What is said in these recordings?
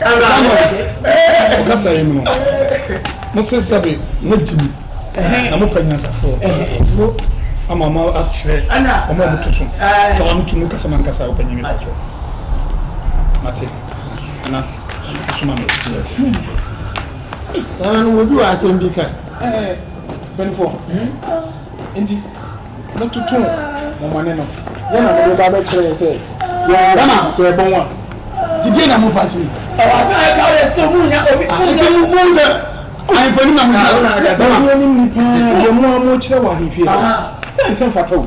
Samuel kasa yi mu no, mose sɛbe moagye mu na mopɛ nyansafoɔ no ama mo akyerɛ ɔmo a moto so sɛ wɔn tumi kasa ma nkasa wopɛ nyɛ mepa kyɛ mate ana soma me saa no wɔbi wɔ asɛm bi ka mpanifoɔ nti mototo mo mmɔne no, deɛn na mode reba abɛkyerɛ yɛn sɛ yɛnwɛn sɛ yɛbɔ mo a? Nti deɛn na mopa tumi? Ɛwɔ ase na yɛka wo yɛ still monya obi monya. Nti mo mo sɛ ahemfo anim na mo gyina. Bɛma mo anim ni paa deɛ mo a mokyerɛ wɔ ahemfie hɔ sɛ ɛnsɛ mfata o.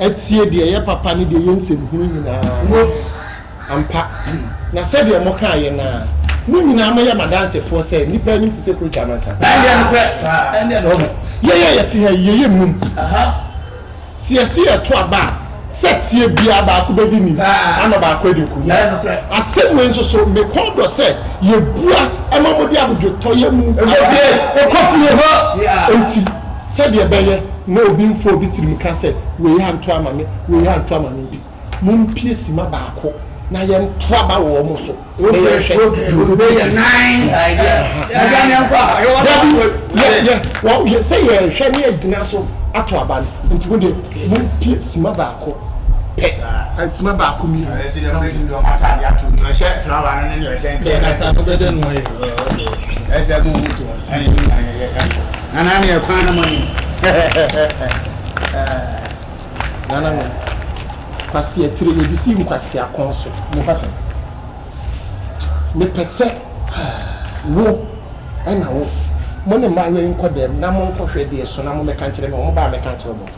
atie deɛ ɛyɛ papa ne deɛ ɛyɛ nsɛmhunu nyinaa. Quote, Ampa, na sɛdeɛ mokaeɛ no ara, mo nyinaa moyɛ m'adansefoɔ sɛ nnipa anim te sɛ preacher amansan. Ɛnneɛ nokorɛ paa, ɛnneɛ nokorɛ. Yɛn a yɛte ha yi, yɛyɛ nnum. Sɛ yɛse yɛreto aba a, sɛteɛ biara baako bɛdi nim, ama baako adi nkonim. Asɛm wei nso so, mekɔn dɔ sɛ yɛbua ma mode abodwotɔyɛ mu adeɛ kɔ fie hɔ. Enti. Sɛdeɛ ɛbɛyɛ na obi mfa obi tirim nka sɛ, Wei anto ama me, wei anto ama me nti, mompue simma baako na yɛnto aba wɔ wɔn so na yɛnhwɛ deɛ ɔbɛdi. Sɛ yɛrehwɛ na yɛagyina so ato aba no, enti mo deɛ mompue simma baako pɛ, simma baako mmienu na monkɔ. Anaa ne ɛkwan no ma no. Nana no kwasi atire yɛ de si nkwasi akɔn so. Ne fa sɛ mepɛ sɛ wo ɛna wo mo ne mmaayewa yi nkɔ dɛm na mo nkɔhwɛ deɛ so na mo mɛka nkyerɛ me wɔn ba a mɛka nkyerɛ mo.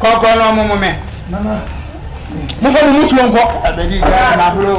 Kɔkɔ no ɔmo mo me. Nana. Mo fa mo mu tuo nkɔ. Abedi gya na bro.